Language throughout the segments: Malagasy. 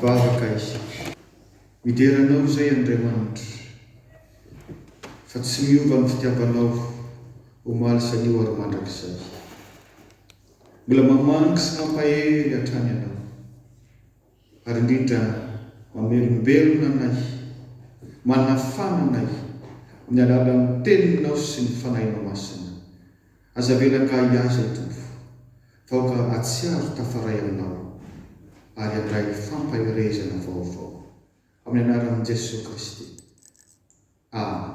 Vavaka isika. Midera Anao izay, Andriamanitra, fa tsy miova ny fitiavanao omaly sy anio ary mandrakizay. Mbola mamangy sy mampahery hatrany Ianao. Ary indrindra, mamelombelona anay, manafana anay, amin'ny alalan'ny Teninao sy ny Fanahinao Masina. Aza avela angahigahy izay, Tompo, fa aoka hahatsiaro tafaray Aminao, ary handray fampaherezana vaovao. Amin'ny Anaran'i Jesoa Kristy. aminy.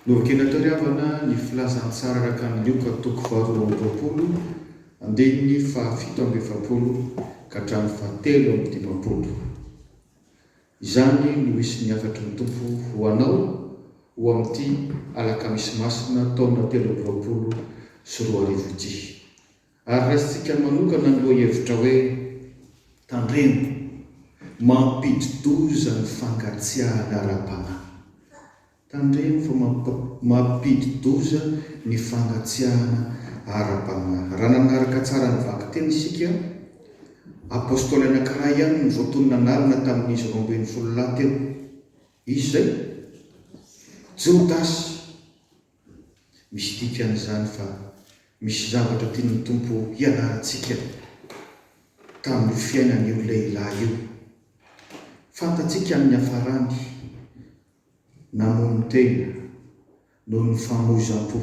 Novakina teo ry havana ny filazantsara Rakaminioka toko faha roa amby roapolo andininy faha fito amby efapolo ka hatramin'ny faha telo amby dimampolo. Izany no hisy ny hafatry ny Tompo ho anao ho amin'ity alakamisy masina taona telo amby roapolo sy roa arivo ity. Ary raisintsika manokana ny lohahevitra hoe Tandremo, mampidi-doza ny fankatsiahana ara-panahy. Tandremo fa mampidi-doza ny fankatsiahana ara-panahy. Raha nanaraka tsara ny vakiteny isika, Apôstôly anankiray ihany no voatonona an'alina tamin'izy roa ambin'ny folo lahy teo. Iza izay? Jodasy, Misy dikany izany fa misy zavatra tian'ny Tompo hianarantsika tamin'io fiainan'io lehilahy io. Fantatsika amin'ny hafarany, namono tena noho ny famoizam-po.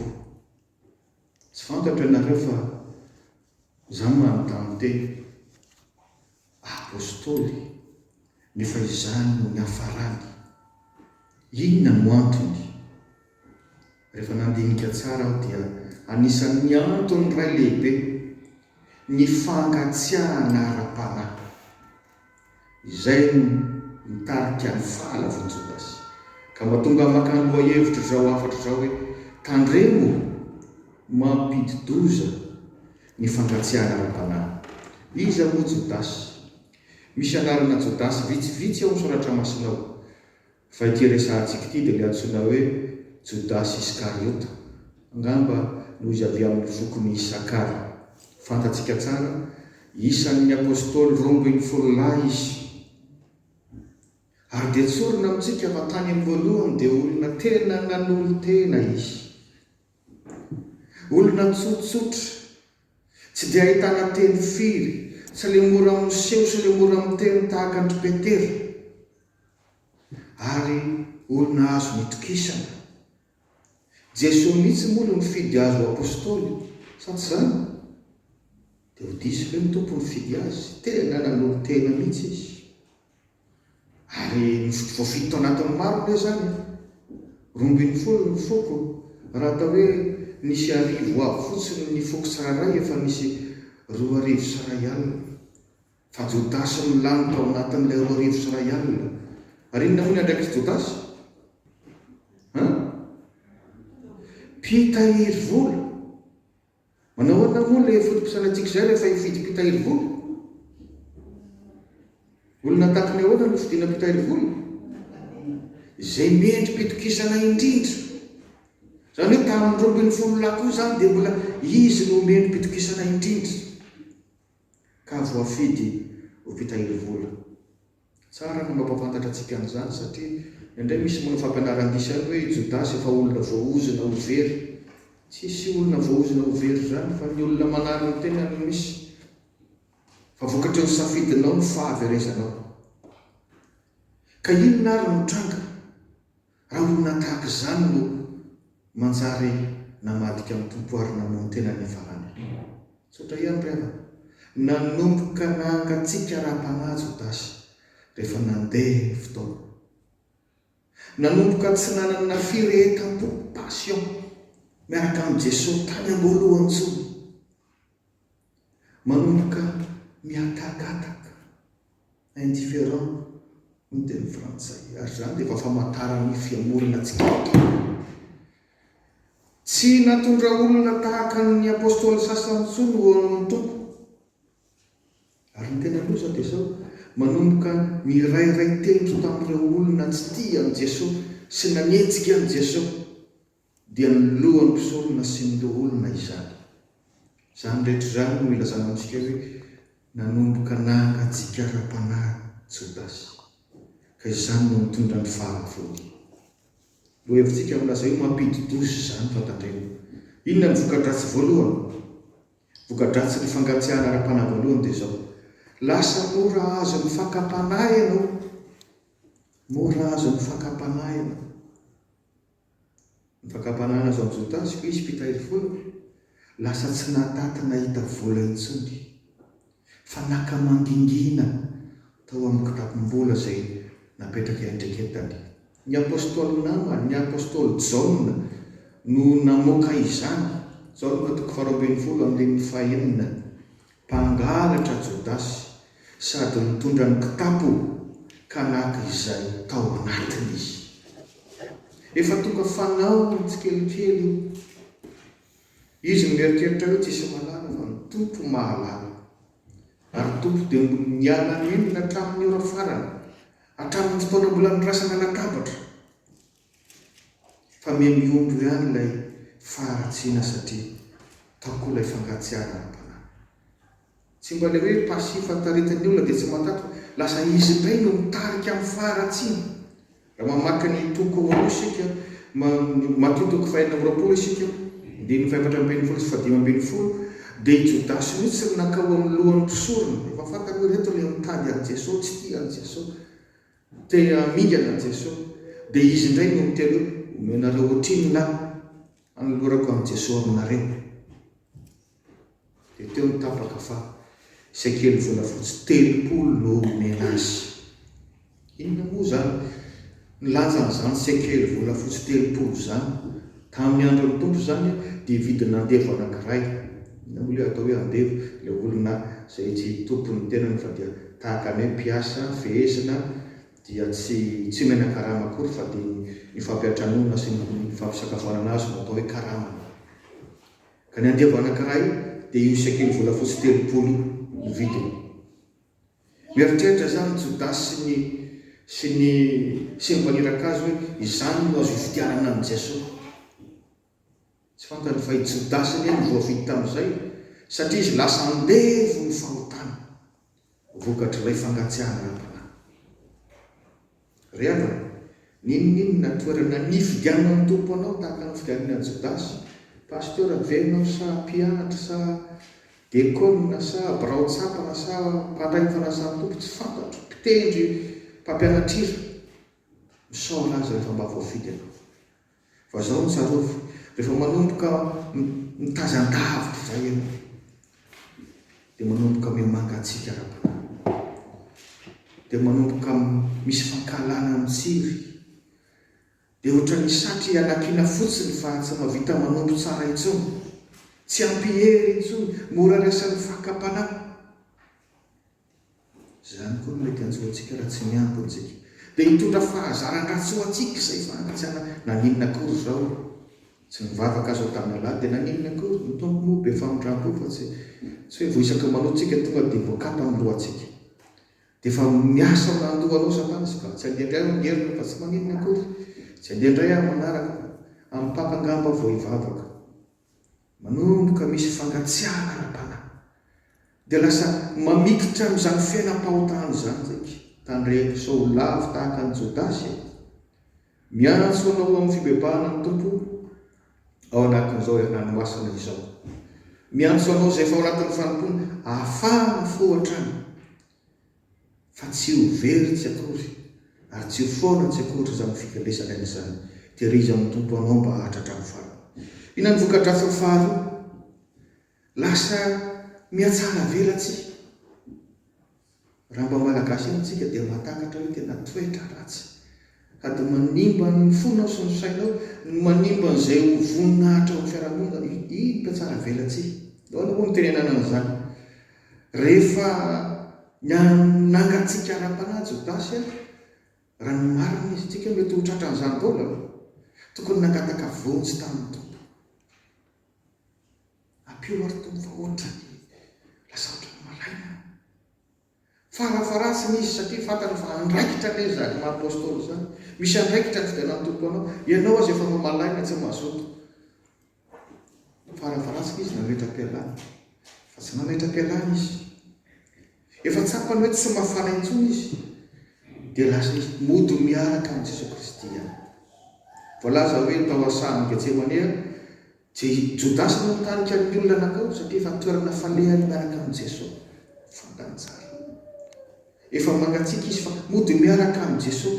Tsy fantatro ianareo fa izaho manontany tena, Apostoly, nefa izany no niafarany. Inona no antony? Rehefa nandinika tsara aho dia anisan'ny antony iray lehibe ny fangatsiahana ara-panahy. Izay no nitarika ny fahalavon'i Jodasy, ka mba tonga maka ny lohahevitr'izao hafatra izao hoe, Tandremo! Mampidi-doza! ny fangatsiahana ara-panahy. Iza moa Jodasy? Misy anarana Jodasy vitsivitsy ao amin'ny Soratra Masina ao, fa ity resahantsika ity dia ilay antsoina hoe Jodasy Iskariota, angamba noho izy avy amin'ny fokon'i Isakara. Fantatsika tsara, isan'ny Apôstôly roa ambin'ny folo lahy izy. Ary dia tsorina amintsika fa tany amin'ny voalohany dia olona tena nanolo-tena izy. Olona tsotsotra, tsy dia ahitana teny firy, sy le mora miseho sy le mora miteny tahaka an-dry Petera, ary olona azony itokisana. Jesoa mihitsy moa no nifidy azy ho Apostoly, sa tsy izany? Dia ho diso ve ny Tompo nifidy azy? Tena nanolo-tena mihitsy izy. Ary voafidy tao anatin'ny maro anie izany an! Roa ambin'ny folo ny foko, raha atao hoe nisy arivo avy fotsiny ny foko tsirairay efa nisy roa arivo sy iray alina. Fa Jodasy no lany tao anatin'ilay roa arivo sy iray alina. Ary inona moa ny andraikitry Jodasy? An? Mpitahiry vola. Manao ahoana moa ilay foto-pisainantsika izay rehefa hifidy mpitahiry vola? Olona tahaka ny ahoana no fidina mpitahiry vola? Izay mendri-pitokisana indrindra. Izany hoe tamin'ny roa ambin'ny folo lahy koa izany dia mbola izy no mendri-pitokisana indrindra ka voafidy ho mpitahiry vola. Tsara ny mampahafantatra antsika an'izany satria indraindray misy manao fampianaran-diso ihany hoe i Jodasy efa olona voaozona ho very. Tsisy olona voaozona ho very izany fa ny olona manary ny tenany no misy. Fa vokatry ny safidinao ny fahaverezanao. Ka inona ary no tranga? Rangona tahaka izany no manjary namadika an'i Tompo ary namono tena niafarany ahy. Misaotra ihany ry havana. Nanomboka nahangatsiaka ara-panahy Jodasy rehefa nandeha ny fotoana. Nanomboka tsy nanana firehetam-po, passion, miaraka amin'i Jesoa tany am-boalohany intsony. Manomboka mihatakataka, indifférent, ny teny frantsay, ary izany dia efa famantarana ny fihemorana tsikelikely. Tsy natondra olona tahaka ny Apostoly sasany intsony ho eo amin'ny Tompo. Ary ny tena loza dia izao, manomboka mirairay tendro tamin'ireo olona tsy tia an'i Jesoa sy nanenjika an'i Jesoa, dia ny lohan'ny mpisorona sy ny loholona izany. Izany rehetra izany no ilazana amintsika hoe nanomboka nahangajika ara-panahy Jodasy, ka izany no nitondra ny fahavony. Lohahevitsika milaza hoe mampidi-doza izany, fa tandremo. Inona no voka-dratsy voalohany? Voka-dratsin'ny fangatsiahana ara-panahy voalohany dia izao, lasa mora azon'ny fakam-panahy ianao. Mora azon'ny fakam-panahy ianao. Ny fakam-panahy nazahoan'i Jodasy koa izy mpitahiry vola, lasa tsy nahataty nahita vola intsony, fa naka mangingina tao amin'ny kitapom-bola izay napetraka iandraiketany. Ny apostoly namany, ny apostoly Jaona, no namoaka izany, Jaona toko faharoa ambin'ny folo andininy fahenina, Mpangalatra Jodasy sady nitondra ny kitapo ka naka izay tao anatiny izy. Efa tonga fanao ny tsikelikely io. Izy no mieritreritra hoe tsy hisy mahalala fa ny Tompo mahalala. Ary ny Tompo dia mbola niala nenina hatramin'ny ora farany, hatramin'ny fotoana mbola niraisana latabatra. Fa mihamiombo ihany ilay faharatsiana satria tao koa ilay fankatsiahana ara-panahy. Tsy mba ilay hoe passif fahataretan'ny olona dia tsy mahatanty fa lasa izy indray no mitarika amin'ny faharatsiana. Raha mamaky ny toko roa isika, Matio toko fahenina amby roapolo isika, andininy fahaefatra ambin'ny folo sy fahadimy ambin'ny folo, dia i Jodasy mihitsy no nankao amin'ny lohan'ny mpisorona. Efa fantany hoe ireto ilay mitady an'i Jesoa, tsy tia an'i Jesoa. Te hamingana Jeso de izy indray no miteny hoe omenareo otrinona aho anolorako an'i Jeso aminareo de teo ny tapaka fa sekely volafotsy telopolo no omena azy inona moa zany ny lanjan'izany sekely volafotsy telopolo zany Tamin'ny andron'ny Tompo izany dia vidina andevo anankiray. Inona moa ilay atao hoe andevo? Ilay olona izay tsy tompon' ny tenany fa dia tahaka ny hoe mpiasa fehezina dia tsy tsy menan-karama akory fa dia ny ny fampiantranoana sy ny ny fampisakafoanana azy no atao hoe karamany. Ka ny andevo anankiray dia io sekelivolafotsy telopolo io no vidiny. Mieritreritra izany Jodasy sy ny sy ny sy ny maniraka azy hoe, Izany no azo ifidianana an'i Jesoa. Tsy fantany fa i Jodasy anie no voafidy tamin'izay, satria izy lasa andevo ny fahotany, vokatr'ilay fangatsiahana ara-panahy. Ry havana, n'inon'inona toerana nifidianan'ny Tompo anao tahaka ny fidianany an'i Jodasy, pasteur ve ianao sa mpianatra sa dekôna sa birao tsapana sa mpandray ny fanasan'ny Tompo tsy fantatro, mpitendry, mpampianatr'hira, misaora Azy rehefa mba voafidy ianao. Fa izao no tsarovy, rehefa manomboka mitazan-davitra izay ianao, dia manomboka mihamanga hatsiaka ara-panahy, dia manomboka misy fankahalana mitsiry, dia ohatran'ny satry ialakiana fotsiny fa tsy mahavita manompo tsara intsony, tsy ampy hery intsony, mora resahin'ny fakam-panahy. Izany koa no mety hanjo antsika raha tsy miabo antsika. Dia hitondra fahazaran-dratsy ho antsika izay fanajana. Naninona akory izao? Tsy nivavaka aza tamin'ny Allâh dia naninona akory? Ny Tompo moa be famindrampo fa tsy tsy hoe vao isaka manoa tsika tonga dia voakapa ny lohantsika. Dia efa miasa ho nandoa anao Satana sy Ba. Tsy handeha indray aho amin'heriny fa tsy maninona akory? Tsy handeha indray aho amin'ny manaraka fa amin'ny Paka angamba vao hivavaka. Manomboka misy fangatsiahana ara-panahy, dia lasa mamikitra amin'izany fiainam-pahotana izany isika. Tandremo sao ho lavo tahaka an'i Jodasy e! Miantso anao amin'ny fibebahana ny Tompo ao anatin'izao herinandro masina izao. Miantso anao izay efa ao anatin'ny fanompoana, afahana fo hatrany. fa tsy ho very tsy akory, ary tsy ho foana tsy akory aza ny fivelesana amin'izany. Tehirizo amin'ny Tompo anao mba haharitra hatramin'ny farany. Inona no voka-dratsiny faharoa? Lasa mihatsaravelatsihy. Raha mba Malagasy amintsika dia mahatakatra hoe tena toetra ratsy. Ka dia manimba ny fonao sy ny sainao, no manimba an'izay ho voninahitra ao amin'ny fiarahamonina. Iny mpihatsaravelatsihy. Ahoana moa no itenenana an'izany? Rehefa nangatsiaka ara-panahy Jodasy ary, raha ny marina izy, tsika mety ho tratra an'izany daholo an! Tokony nangataka vonjy tamin'ny Tompo. Ampio aho ry Tompo fa ohatran'ny lasa ohatran'ny malaina aho. Farafaharasiny izy satria fantany fa andraikitra ange izany maha apostoly izany. Misy andraikitra tsy dia natoky ho anao. Ianao aza efa mamalaina tsy mazoto. Farafaharasiny izy nametra-pialana. Fa tsy nametra-pialana izy. Efa tsapany hoe tsy mafana intsony izy. Dia lasa izy mody miaraka amin'i Jesoa Kristy ihany. Voalaza hoe tao Asano Getsemane, Tsy Jodasy no nitarika ny olona nakao satria efa toerana falehany miaraka amin'i Jeso. Fantany tsara. Efa mangatsiaka izy fa mody miaraka amin'i Jeso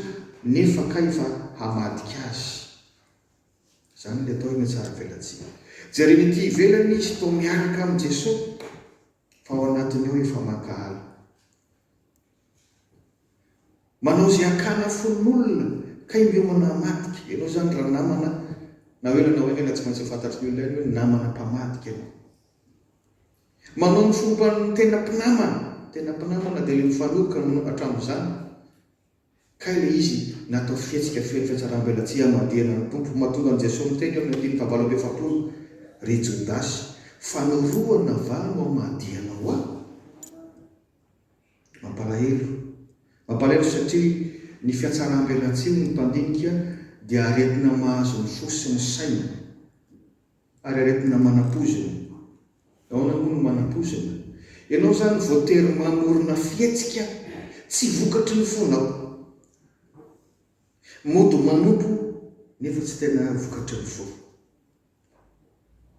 nefa kay fa hamadika azy. Izany ilay atao hoe miatsaravelatsihy. Jereny ety ivelany izy toa miaraka amin'i Jeso fa ao anatiny ao efa mankahala. Manao ze akana fon'olona ka indreo manamadika ianao zany ra namana na hoe ranao anie ra tsy maintsy ho fantatry ny olona ihany hoe namana mpamadika ianao. Manao ny fomban'ny tena mpinamana, tena mpinamana de le mifanohitra aminao hatramizany kay le izy natao fihetsika feno fiatsarambelatsihy hamadihana ny Tompo mahatonga an'i Jesoa miteny eo amin'ny andininy fahavalo amby efapolo ry Jodasy fanorohana va no hamadihanao ahy? Mampalahelo. Mampalahelo satria ny fiatsaram-belatsihy ny mpandinika dia aretina mahazo ny fo sy ny saina ary aretina manam-poizina. Ahoana moa no manam-poizina? Ianao izany voatery mamorona fihetsika tsy vokatry ny fonao. Mody manompo nefa tsy tena vokatry ny fo.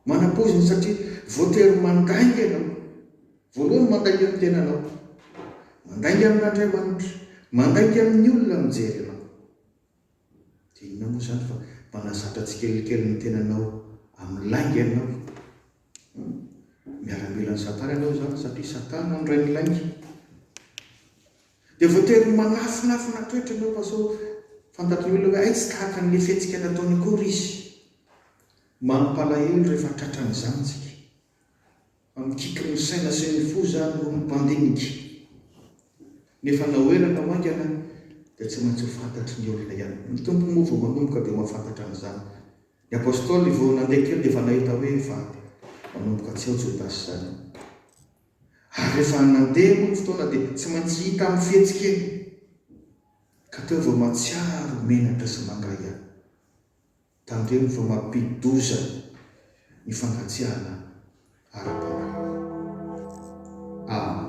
Manapoizina satria voatery mandainga ianao. Voalohany mandainga amin'ny tenanao. Mandainga amin'Andriamanitra. Mandainga amin'ny olona mijery anao. Dia inona moa izany fa mpanazatra tsikelikely ny tenanao amin'ny lainga ianao. Miaramilan'i Satana ianao izany satria Satana no rain'ny lainga. Dia voatery manafinafina toetra ianao fa sao fantatry ny olona hoe hay tsy tahaka an'ilay fihetsika nataony akory izy. Mampalahelo rehefa tratran'izany isika. Fa mikiky ny saina sy ny fo izany hono mpandinika. Nefa na ho ela na ho haingana dia tsy maintsy ho fantatry ny olona ihany koa. Ny Tompo moa vao manomboka dia mahafantatra an'izany. Ny Apostoly vao nandeha kely dia efa nahita hoe efa manomboka tsy ao Jodasy izany. Ary rehefa nandeha moa ny fotoana dia tsy maintsy hita amin'ny fihetsika eny ka teo vao mahatsiaro menatra sy manga ihany. Tandremo fa mampidi-doza ny fangatsiahana ara-panahy. Amen.